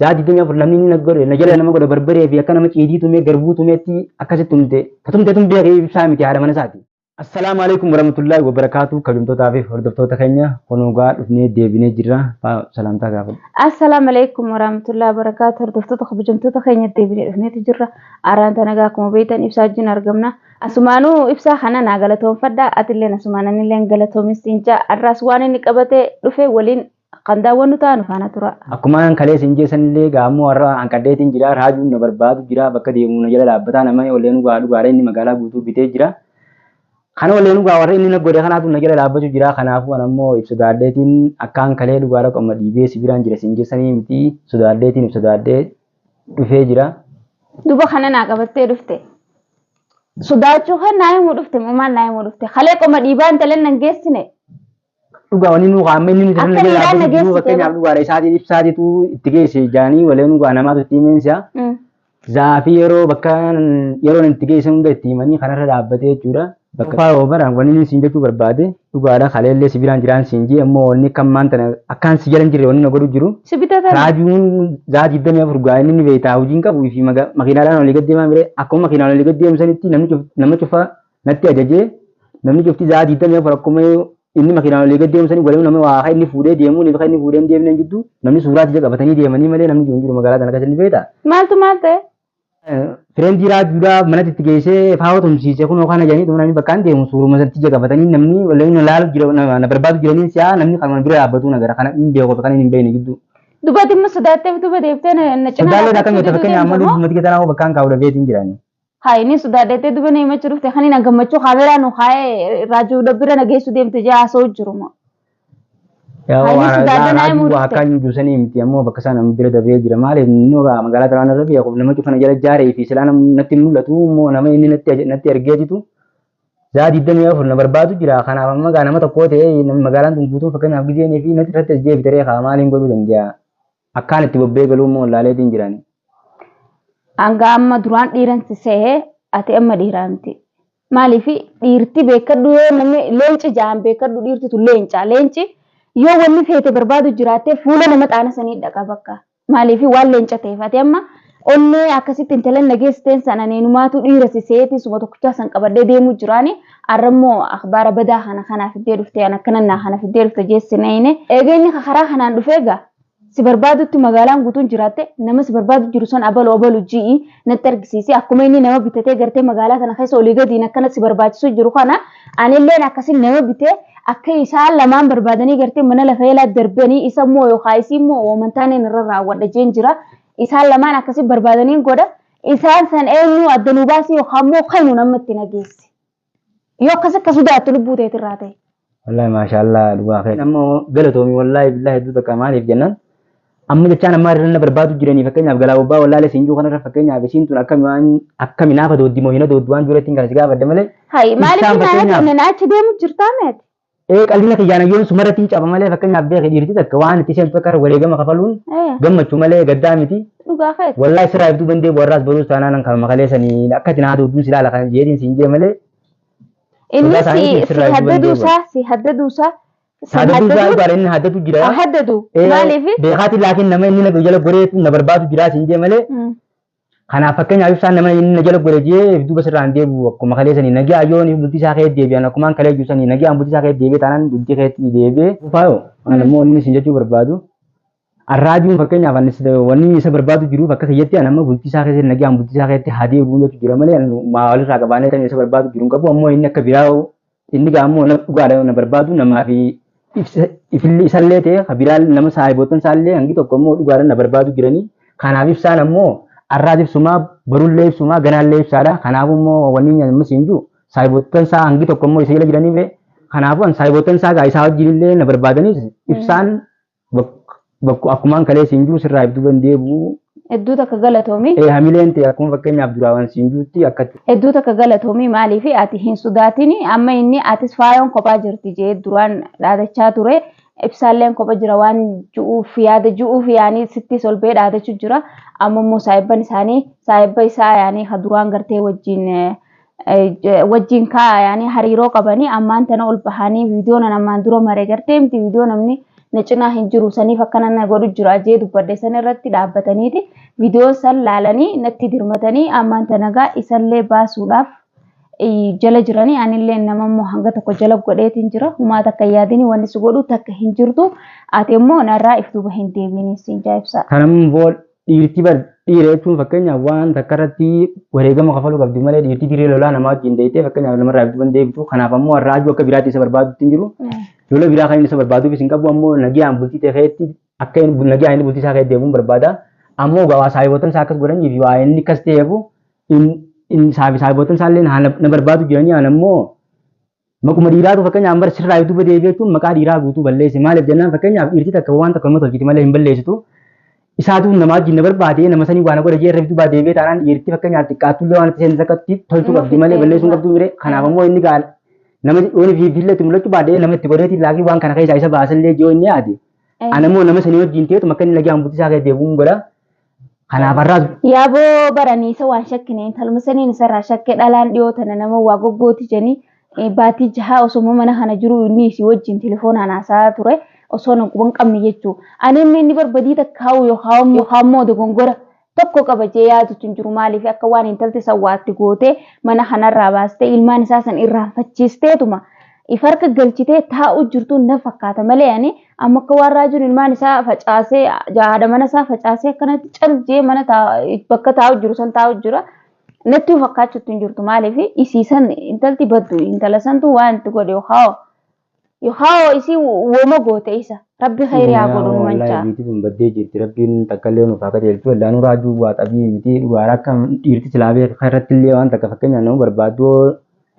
Sa'aa 24 namni inni na godhe na jala nama godhe barbaree fi akka nama ciidii tumee garbuu tumeetti akkasitti tumte. Ka tumte tun beekee ibsaa miti haadha mana isaati. Assalaamu alaikum warahmatullaahi wabarakaatu kabajamtootaa fi hordoftoota keenya kunuugaa dhufnee deebinee jirra faa salaamtaa gaafadhu. Assalaamu alaikum warahmatullaahi wabarakaatu hordoftoota kabajamtoota keenya deebinee dhufneeti jirra araan tanagaa akkuma beektan ibsaa wajjin argamna asumaanuu ibsaa kana naa galatoomfadha atilleen asumaan anilleen galatoomissiin ja'a arraas waan inni qabatee dhufe waliin Kan daawwannu taanu faana tura. Akkuma an kaleessa hin jeessan illee egaa ammoo har'a hanqadheetiin jira raajuun na barbaadu jira bakka deemu na jala dhaabbataa nama olleen ugaa dhugaadha inni magaalaa guutuu bitee jira kana olleen ugaa warra inni na godhe kanaatu na jala dhaabbachuu jira kanaafuu an ammoo if sodaadheetiin akkaan kalee dhugaadha qomma dhiibee si biraan jira siin jeessanii miti sodaadheetiin if sodaadhee dhufee jira. Duba kana naa qabattee dhufte. Sodaachuu kan naa himuu dhufte moo maal naa himuu dhufte kalee qoma dhiibaa intaleen nan geessine. Dhugaa wani nuu amma inni nuti Akka miidhaan na geessite fakkeenyaaf bara. dhugaadha isaatiin ibsaatitu itti geesse jaanii walee dhugaa namaatu itti himeensa. Mm. Zaafii yeroo bakka yeroon itti geessan hunda itti himanii kanarra dhaabbatee jechuudha. Bakka faa yoo baraan wani inni siin jechuu barbaade dhugaadha kaleellee si biraan jiraan siin jee immoo wanni akka ammaan tana akkaan si jala hin jirre wanni na godhu jiru. Si bitatan. Raajuun zaa digdamii afur gaa inni ni beektaa hojiin qabu fi maga- makiinaadhaan olii gad deemaa mire akkuma makiinaan olii gad deemsanitti namni cuf- nama cufaa natti ajajee namni cufti za'aa diidamii afur akkuma inni makiinaan olii gad deemsanii walii nama waa akka inni fuudhee deemuun fi akka inni fuudhee hin deemneen jidduu namni suuraa tija qabatanii deemanii malee namni jiru hin jiru magaalaa sana keessa ni beekta. Maaltu maal ta'e? Fireentii raajuudhaa manatti itti geessee faawoo tumsiise kun yookaan ajanii dhuma namni bakkaan deemu suuruma sana tija qabatanii namni walii na laalu jira na barbaadu jiranii si'aa namni kan bira dhaabbatu na gara kana hin beeku kan hin beekne gidduu. Dubartiin immoo sodaatteef duba deeftee na cinaa. Sodaallee akka nyaata fakkeenyaaf amma lubbumatti keessa naannoo bakkaan kaa'u dhabeetiin jiranii. Haa inni sodaadeettee duba na himachu dhufte kan hin gammachuu kaameeraa nu kaa'ee raajuu dabbira na geessu deemte jee haasa'u jiru moo. Yaa Haa inni waan sodaadda naa raajuu himuu waa dhufte. kan juu sanii miti ammoo bakka isaa nama bira dabree jira maaliif inni waa magaalaa Taraawaan irra beeku nama cufa na jala jaaree fi silaa nam- natti hin mul'atu immoo nama inni natti aj- natti ergee jitu zaa digdamii afur na barbaadu jira kanaaf amma gaa nama tokkoo ta'ee nam- magaalaan tun guutuun fakkeenyaaf gizeenii fi natti irratti as deebitaree kaa maaliin godhuu danda'a. Akkaan itti bobbee galuu immoo wallaaleetiin jiraanii. Hanga amma duraan dhiiran si sehe ati amma dhiiraa miti. Maaliif dhiirti beekkadhu yoo namni leenci ja'an beekkadhu dhiirti tun leenca. Leenci yoo wanni feete barbaadu jiraatte fuula nama xaana sanii dhaqa bakka. Maaliif waan leenca ta'eef ati amma Onnee akkasitti intalan na geessiteen san ani inumaatu dhiira si seeti isuma tokkichaa san qabadhee deemuu jiraani arrammoo akhbaara badaa kana kanaa fiddee dhufte an akkanan naa kana fiddee dhufte jee sin eeyne eega inni ka karaa kanaan dhufe eega si barbaadutti magaalaan guutuun jiraatte nama si barbaadu jiru san abalu abalu ji'i natti argisiisi akkuma inni nama bitatee gartee magaalaa tana keessa olii gadiin akkana si barbaachisuu jiru kana anilleen akkasi nama bitee akka isaan lamaan barbaadanii gartee mana lafa eelaa darbanii isa immoo yookaa isii immoo woomantaaneen irra raawwadha jeen jira Isaan lamaan akkasi barbaadaniin godha. Isaan san eenyu adda nu baasii yookaan immoo kanu nama itti nageessi. Yoo akkas akka sodaattu lubbuu teetirraa ta'e. Wallaahi maashaallah dhugaa kee amma galatoomi wallaahi billaahi hedduu takka maaliif jennaan amma jechaan ammaa irra na barbaadu jiranii fakkeenyaaf galaa bobbaa wallaalee siin jiru kanarra fakkeenyaaf isiin tun akkami waan akkami naafa dooddi moo hina dooddi waan jiru ittiin kana si gaafadde malee Hayi maaliif Isaan hin fakkeenyaaf- aadamne na achi deemu jirtaa meeti? Ee qalbiin kiyyaa nayyoon sumarratti hin caba malee fakkeenyaaf beeki dhiirti takka waan itti seentu akka wareegama kafaluun Ee, gammachuu malee gaddaa miti. dhugaa keeti. Wallaahi sirraa ibduu bandee bu'arraas baruus taanaan kan makalee sanii akka itti naa duudduun si ilaala kan jeetiin siin jee malee Inni sodaa isaanii si, si keessirraa iyyuu haddaduu danda'u. isaa, si haddaduu isaa, si saadaduu isaa haddaduu, dhugaadha inni haddatu jira. haa haddadu. Ee, Maaliif? Beekaatiin laakiin nama inni na jala goreetu na barbaadu jira siin jee malee Mm. Kanaaf fakkeenyaaf ibsaan nama inni na jala godhe jee if duuba sirraan deebi'u akkuma kalee sanii nagaa yoon if bultii isaa kee deebi'an akkumaan kalee jiru sanii nagaan bultii isaa kee deebi'e taanaan bultii keetti deebi'e. Faayo ani immoo wanni isin jechuu barbaadu arraajuun fakkeenyaaf ani sida- wanni isa barbaadu jiruuf akka kiyyatti ani amma bultii isaa keessatti nagaan bultii isaa keessatti haa deebi'u jechuu jira malee ani maa walirraa qabaanee kan isa barbaadu jiru hin qabu ammoo inni akka biraa Inni gaa ammoo nama dhugaadha yoo na barbaadu namaa fi ibsa ifillee isallee ta'e ka biraa nama saahibootan isaallee hangi tokko ammoo dhugaadha na barbaadu jiranii kanaaf ibsaan ammoo arraas ibsumaa barullee ibsumaa ganaallee ibsaadha kanaaf ammoo wanni inni ammas hin jiru saahibootan isaa hangi tokko ammoo isa jala jiraniif kanaafuu an saahibootan isaa gaa isaa wajjin illee na barbaadanis ibsaan Bakku akkumaan kalee siin jiru sirraa if duban deebi'u. Hedduu takka galatoomi. Ee hamileen ta'e akkuma fakkeenyaaf duraawan siin jirutti akkatti. Hedduu takka galatoomi maaliif ati hin sodaatini amma inni atis faayoon kophaa jirti jee duraan dhaadachaa ture ibsaalleen kopha jira waan ju'uuf yaada ju'uuf yaanii sittis ol ba'ee dhaadachuu jira amma immoo saayibban isaanii saayibba isaa yaanii ka duraan gartee wajjin wajjin kaayanii hariiroo qabanii ammaan tana ol bahanii viidiyoo nan ammaan dura maree gartee miti viidiyoo namni na cinaa hin jiru saniif akkana na godhu jira jee dubbadhe san irratti dhaabbataniiti viidiyoo san laalanii natti dirmatanii ammaan tanagaa isallee baasuudhaaf jala jiranii anillee nama immoo hanga tokko jala godheetiin jira humaa takka yaadini wanni si godhu takka hin jirtu ati immoo narraa if duuba hin deebiin siin jaa'ibsaa. Kanammoo Dhiirti bar dhiira jechuun fakkeenyaaf waan takka irratti wareegama kafaluu qabdi malee dhiirti dirree lolaa namaa wajjin deeytee fakkeenyaaf namarraa eegduu hin deebtu. Kanaaf ammoo har'a ajuu akka biraatti isa barbaadutti hin jiru. Lola biraa kan inni isa barbaaduufis hin qabu ammoo nagiyaan bultii ta'e keetti akka inni nagiyaan inni bultii isaa keetti deemuun barbaada. Ammoo gawaa saayibootan isaa akkas godhanii fi waa inni akkas ta'eefu inni saayibootan isaa illee na barbaadu jedhanii aan ammoo Maquma dhiiraatu fakkeenyaaf bar sirraa duuba deebi'ee jechuun maqaa dhiiraa guutuu balleesse maaliif jennaan fakkeenyaaf dhiirti takka waan takka nama tolchiti malee hin balleessitu isaatu nama wajjin na barbaade nama sanii waa na godha jee irra duuba deebi'ee taanaan dhiirti fakkeenyaaf xiqqaattuu illee waan itti seentu takkatti tolchuu Nama qabdi malee fixee balleessuun duuba. qabduu mire kanaaf ammoo inni gaala nama dhiyoon fi fiillee itti mul'achuu baadhee nama itti godheetiin laakii waan kana keessaa isa baasallee ji'oo inni yaade Ana immoo nama sanii wajjin teetu makka inni lagaan buutisaa kee deebi'uun godha. Kanaaf har'aas Yaaboo baranii isa waan shakkine intaluma saniin isarraa shakke dhalaan dhiyoo tana nama waa goggooti jedhanii eh, baatii jahaa osoma mana kana jiru inni isii wajjin telefoonaan haasa'aa ture osoo na quban qabne jechuu ani amma inni barbadii takkaa'u yookaan yookaan immoo dogongora tokko qaba jee yaadutu hin jiru maaliif akka waan intalti sawwaatti gootee mana kanarraa baastee ilmaan isaa san irraanfachiisteetuma If harka galchitee taa'uu jirtuu na fakkaata malee ani amma akka waan raajuun ilmaan isaa facaasee haadha mana isaa facaasee akkanatti cal jee mana bakka taa'uu jiru san taa'uu jira. Nattuu fakkaachuutti hin jirtu maaliif isii san intalti baddu intala santu waan itti godhe yookaan yookaan isii wooma goote isa rabbi khayri haa godhu nu manchaa. Biitii sun baddee jirti rabbiin takka illee nuuf haa qajeelchu wallaanuu raajuu waa xabii miti dhugaara akka dhiirti silaa beeka irratti illee waan takka fakkeenyaaf nama barbaaddu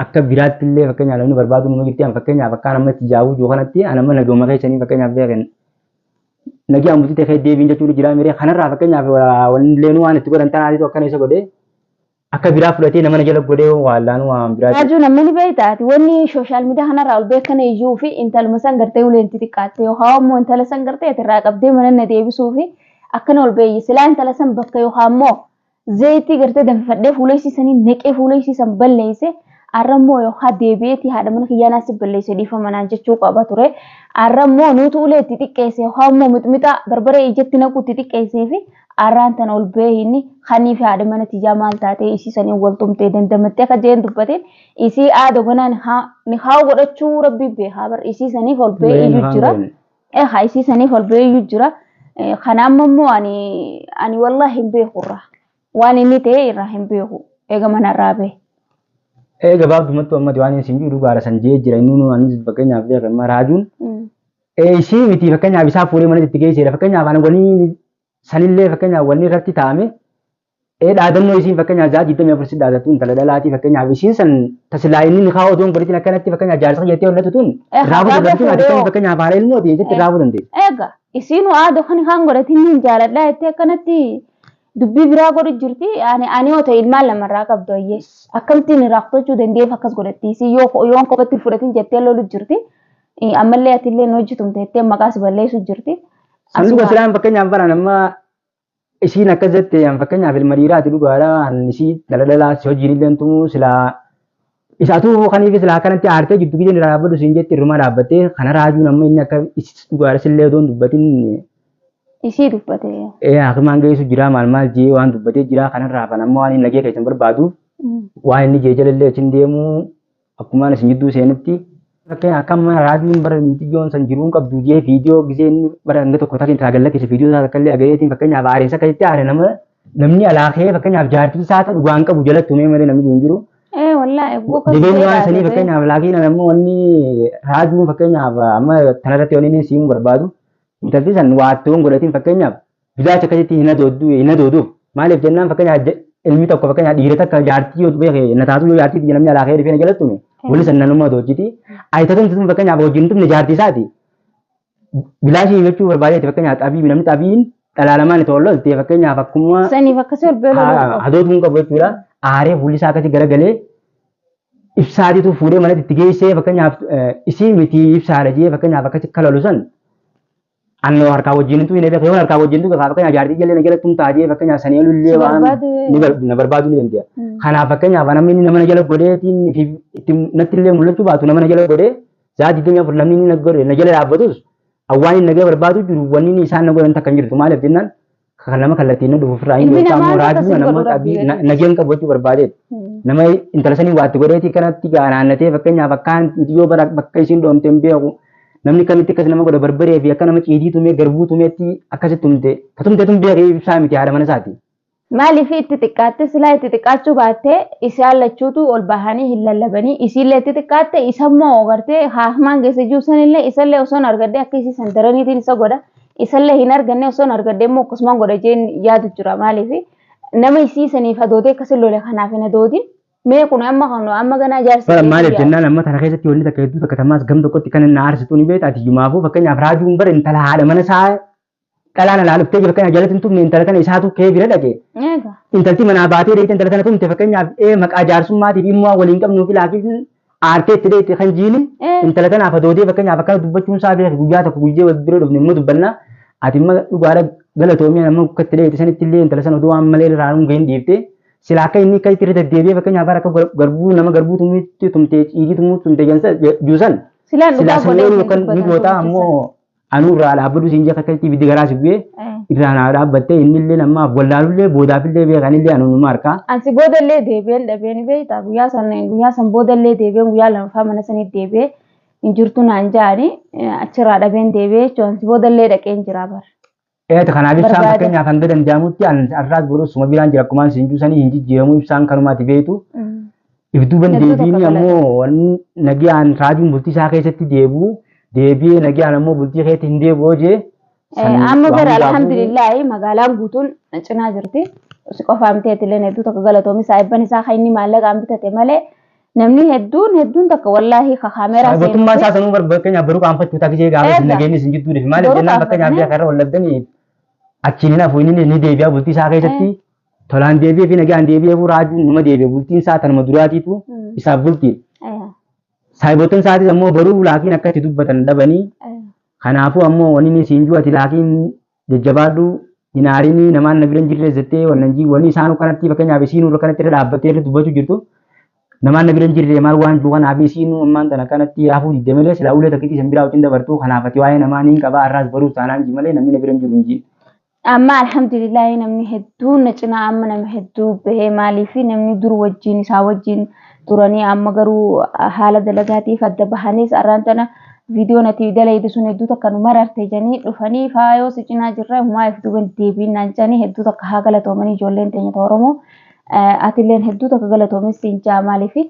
Akka biraatti illee fakkeenyaaf namni barbaadu nama jirti an fakkeenyaaf akkaan amma itti jaawuu jiru kanatti an amma nagooma keessanii fakkeenyaaf beekan nagi an butite kee deebiin jechuun jiraa miree kanarraa fakkeenyaaf wanillee nu waan itti godhan tanaatitu akkana isa godhee akka biraa fudhatee nama na jala godhee waallaan waan biraa Raajuu namni ni beektaati wanni sooshaal miidiyaa kanarraa ol beekan iyyuu fi intaluma san gartee ulee itti xiqqaatte yookaan immoo intala san gartee irraa qabdee mana na deebisuu fi akkana ol beeyyi silaa intala san bakka yookaan immoo Zayitii gartee danfifadhee fuula isii saniin naqee fuula isii san balleeyse arrammoo yookaan deebi'eetii haadha mana kiyyaa naa si balleeyse dhiifama naan jechuu qaba ture. Arrammoo nuutu ulee itti xiqqeeyse yookaan immoo mixmixaa barbaree ijatti naquu itti xiqqeeysee fi arraan tana ol bahee inni kanii fi haadha mana tiyyaa maal taatee isii saniin wal tumtee dandamattee akka jeen dubbateen isii aado ganaa nikaa godhachuu rabbii beekaa bar isii saniif ol bahee Mee iyyu nikaan jira. goone. ee haa isii saniif ol beeyyuu jira kana amma immoo ani ani wallahi hin beeku irraa waan inni ta'e irraa hin beeku eega mana irraa bee. Ee gabaabdumattuu ammati waan isin jiru dhugaadha san jee jira inni nu anis fakkeenyaaf beeka amma raajuun ee isii miti fakkeenyaaf isaa fuudhee mana itti geesseera fakkeenyaaf ani wanii sanillee fakkeenyaaf wanni irratti taa'ame Ee dhaadannoo isiin fakkeenyaaf ja'a digdamii afur si dhaadattu intala dhalaatii fakkeenyaaf isiin san tasilaa inni ni kaa'u odoon godhitiin akkanatti fakkeenyaaf jaarsa kiyya jettee hollatu tun Eh, irraa hagaa fuudhu dandeenye fuudhee akkamiin hoo. fakkeenyaaf haala ilmoo ta'e jettee irraa fuudhu dandeenye. Egaa isiinu aadoo kan kaan godhatiin ni jaaladha jettee akkanatti dubbii biraa godhu jirti. Ani ani yoo ta'e ilmaan lamarraa qabdu ayyee. Akkamittiin irraa fudhachuu dandeef akkas godhatti. Isii yoo yoon kophatti hin fudhatin jettee lolu jirti. Eh, Ammallee ati illee hin hojjetumte jettee maqaas balleessu jirti. Sanduuqa Asuma- silaan fakkeenyaaf bara nama isiin akkas jette an fakkeenyaaf ilma dhiiraati dhugaadha an isii daladalaa si hojiin illee tumu silaa isa atuu kaniif silaa akkanatti aartee jiddu gideen irraa dhaabbadhu siin jetti irrumaa dhaabbattee kana raajuun amma inni akka isis dhugaadha sillee odoon dubbatin Isii dubbate. ee hakimaan geessu jiraa maal maal jee waan dubbatee jiraa kanarraa hafan amma waan hin nagee keessan barbaaduuf waan inni jee jalallee achiin deemuu Akkumaan isin jidduu seenetti fakkeen akkam mana raadiyoon bara mixiyyoon san jiruun qabdu jee viidiyoo gisee inni bara hanga tokko takin taa gallakise viidiyoo isaa takkallee agayeetiin fakkeenyaaf aaressa akkasitti aare nama namni alaa kee fakkeenyaaf jaartii isaa ta'u dhugaan qabu jalatti umee malee namni hin jiru. Ee wallaa eegguu kan Dibeen waan sanii fakkeenyaaf laakiin amma wanni raadiyoon fakkeenyaaf amma tanarratti wanni inni siimuu barbaadu intalti san waattoon godhatiin fakkeenyaaf Bilaacha akkasitti hin hadooddu hin hadooduuf maaliif jennaan fakkeenyaaf ilmi tokko fakkeenyaaf dhiira takka jaartii yoo beeke na taatu yoo jaartii namni alaa ka'ee dhufee na jalatti tume wali sannan ummaa doojjiti ayitatumti tun fakkeenyaaf wajjin tumne jaartii isaati bilaashii jechuu barbaadeeti fakkeenyaaf xabii namni xabiin dhalaalamaan itti oollolte fakkeenyaaf akkuma Saniif akkasii ol beeluu danda'u. hadootu hin qabu jechuudha aaree fuulli isaa akkasii garagalee ibsaatitu fuudhee manatti itti geessee fakkeenyaaf isii miti ibsaadha jee fakkeenyaaf akkasii kalalu san Annoo harkaa wajjin hin tuine beeka yoon harkaa wajjin tuke kaa fakkeenyaaf jaartii jallee na jalatti hin taatee fakkeenyaaf sanii ol illee waan ni bar- na barbaadu ni dandeenya. Kanaaf fakkeenyaaf namni inni nama na jala godheetiin fi itti natti illee mul'achuu baatu nama na jala godhee saa digdamii afur namni inni na godhe na jala dhaabbatus awwaan inni nagee barbaadu jiru wanni inni isaan na godhan takka hin jirtu maaliif jennaan Kan nama kallattiin dhufu ofirraa hin Ilmi beekaa namaa immoo raajii akkasuma nama godhu qabii Rabbi na- nageen qabu jechuu barbaadeet. Nama intala sanii waatti godheetii kanatti gaa naannatee fakkeenyaaf akkaan nuti yoo bara bakka isiin dhoomte hin beeku. Namni kamitti akkas nama godha barbaree fi akka nama ciidii tumee garbuu tumeetti akkasitti tumte. Ka tumte tun beekee ibsaa miti haadha mana isaati. Maaliif itti xiqqaatte silaa itti xiqqaachuu baattee isaan lachuutu ol bahanii hin lallabanii isiillee itti xiqqaatte isammoo gartee haahmaan geesse jiru sanillee isallee osoo hin argadde akka isii sandaraniitiin isa godha Isallee hin arganne osoon argadhee immoo akkasumaan godha jeen yaadu jira maaliif nama isii saniif hadoodee akkasii lole kanaaf hin hadoodin mee kun amma kan amma ganaa jaarsi Bara maaliif deebi'aa. jennaan amma tana keessatti wanni takka hedduu takka tamaas gam tokkotti kan inni aarsitu ni beekta ati yumaafuu fakkeenyaaf raajuun bara intala haadha mana isaa dhalaan alaa dhuftee jiru fakkeenyaaf jalatti hin tumne intala tana isaatu kee bira dhaqe Eega. intalti manaa baatee deemte intala tana tumte fakkeenyaaf ee maqaa jaarsummaatiif immoo waliin qabnuuf ilaafiif Aartee itti dheetti kan jiini Eh. intala tanaaf adoodee fakkeenyaaf akkana dubbachuun isaa beeku guyyaa tokko guyyee wal bira dhufne immoo dubbanna ati immoo dhugaadha galatoomii amma akka itti dheetti sanitti illee intala sana oduu waan malee irraa hin gahin dhiifte silaa akka inni akka itti irra deddeebi'ee fakkeenyaaf bara akka gar- garbuu nama garbuu tumuutti tumtee ciigii tumuutti tumtee jensa juusan Silaan silaa dhugaa saneen godhee yookaan ni dubbatan goota tumte ammoo Anuu irraa dhaabbadhu siin jee kattalitti ibiddi garaa si bu'ee Eh. irraa naa dhaabbattee inni illee ammaaf wallaalullee boodaaf illee beekan illee anuma harkaa. Ansi booda illee deebi'een dhabee ni beektaa guyyaa san guyyaa san booda illee deebi'een guyyaa lamaffaa mana saniif deebi'ee hin jirtu naan ja'ani achirraa dhabeen deebi'ee jechuun ansi booda illee dhaqeen jira bara. Eet kanaaf ibsaan Barbaada. fakkeenyaaf hanga danda'amutti an har'aas boruus suma biraan jira akkumaan siin juusanii hin jijjiiramu ibsaan kanumaati beektu. Mm. Ibduuban Hedduu deebiin tokko ammoo wanni nagaan raajuun bultii isaa keessatti deebi'u deebi'ee nagaan ammoo bultii keetti hin deebi'u jee. Eh, Amma bara alhamdulillahi magaalaan guutuun cinaa jirti. Si qofaamtee illee hedduu tokko galatoomi isaa eebban isaa kan inni maallaqaan bitate malee Namni hedduun hedduun takka wallaahi ka kaameeraa Kana gootummaa seenuufi isaa sanuu bar fakkeenyaaf baruu qaanfachuu ta'a gishee gaafa isin Eega. nageenyi isin jidduu deefi maaliif Baruu jennaan fakkeenyaaf qaanfatanii. biyya kanarra wal dhabdanii achiin hin hafu inni ni deebi'a bultii isaa keessatti tolaan deebi'ee fi nagaan deebi'ee fi raajuun numa deebi'a bultiin isaa tanuma duraatiitu Mm. isaaf bultii Eh, saayiboottan isaatis ammoo baruu laakiin akka itti dubbatan dhabanii eh. kanaafuu ammoo wanni isin jiru ati laakiin jajjabaadhu hin aarinii namaan na bira hin jirre jettee wannan jii wanni isaanuu kanatti fakkeenyaaf isiinuu irra kanatti irra dhaabbattee irra dubbachuu jirtu namaan na bira hin jirre maal waan jiru kanaaf isiinuu ammaan tana kanatti hafuu didde malee silaa ulee takkitti isin biraa wajjin dabartuu kanaaf ati waa'ee namaa niin qabaa har'aas baruus taanaan ji malee namni na bira hin jiru hin jiin. Amma alhamdulillahi namni hedduun na cinaa amma nama hedduu bahee maaliif namni dur wajjin isaa wajjin turanii amma garuu haala dalagaatiif adda bahaniis arraan tana viidiyoo nati dalaydu sun hedduu takka nu mararte janii dhufanii faayoo si cinaa jirra humaa if duuban deebiin naan janii hedduu takka haa galatoomanii ijoolleen teenya ta Oromoo atilleen hedduu takka galatoomin siin jaa maaliifi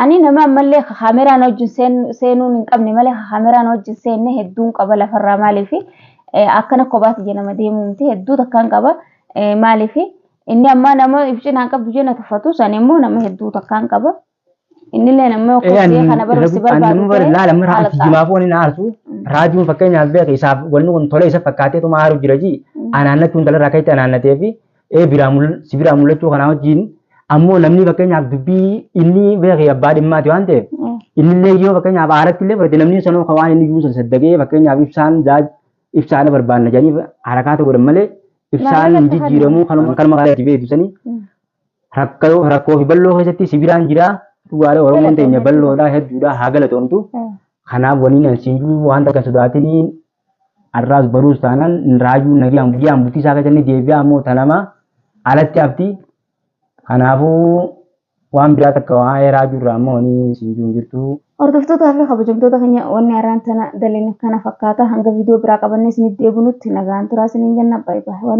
ani nama ammallee kaameraan wajjin seenuun hin qabne malee kaameraan wajjin seenne hedduun qaba lafarraa maaliifi akkana kophaati jedhama deemuu miti hedduu takkaan qaba maaliifi Inni ammaa nama if cinaan qabdu jee na tuffatus ani immoo nama hedduu takkaan qaba. Innillee nama Ee, kokkee ani- kana barumsi ani barbaadu nama bara- laala amma raa- alqaa. jimaafuu ani na aarsu raajuun fakkeenyaaf beeka isaaf wanni kun tolee isa fakkaatee tuma aaru jira ji anaannachuun dhala irraa ka'etti anaannatee fi ee biraa mul- si biraa mul'achuu kanaa wajjin ammoo namni fakkeenyaaf dubbii inni beekee abbaa dhimmaati waan ta'eef innillee yoo fakkeenyaaf aaratti illee fudhate namni sanoo kan waan inni iyyuu san saddagee fakkeenyaaf ibsaan zaaj ibsaala barbaanna jedhanii harakaata godhan malee ibsaan Maarree lafa jijjiiramuu kanuma kanuma kan itti beektu sanii Mm. rakkoo rakkoo fi balloo keessatti sibiraan jiraa dhugaadha oromoon teenya Galatoomna. balloodhaa hedduudhaa haa galatoomtu Eh, kanaaf waliin ansiinjuu waan takka sodaatini har'aas baruus taanaan raajuu nagaan guyyaan bultii isaa keessatti deebi'aa ammoo tanamaa alatti hafti Kanaafuu waan biraa takka waa'ee raajuu irraa ammoo wani siin jiru hin jirtu. Hordoftootaa fi kabajamtoota keenya wanni arraan tana daline kana fakkaata hanga viidiyoo biraa qabannee isinitti deebinutti nagaan turaa isiniin jenna bye bye.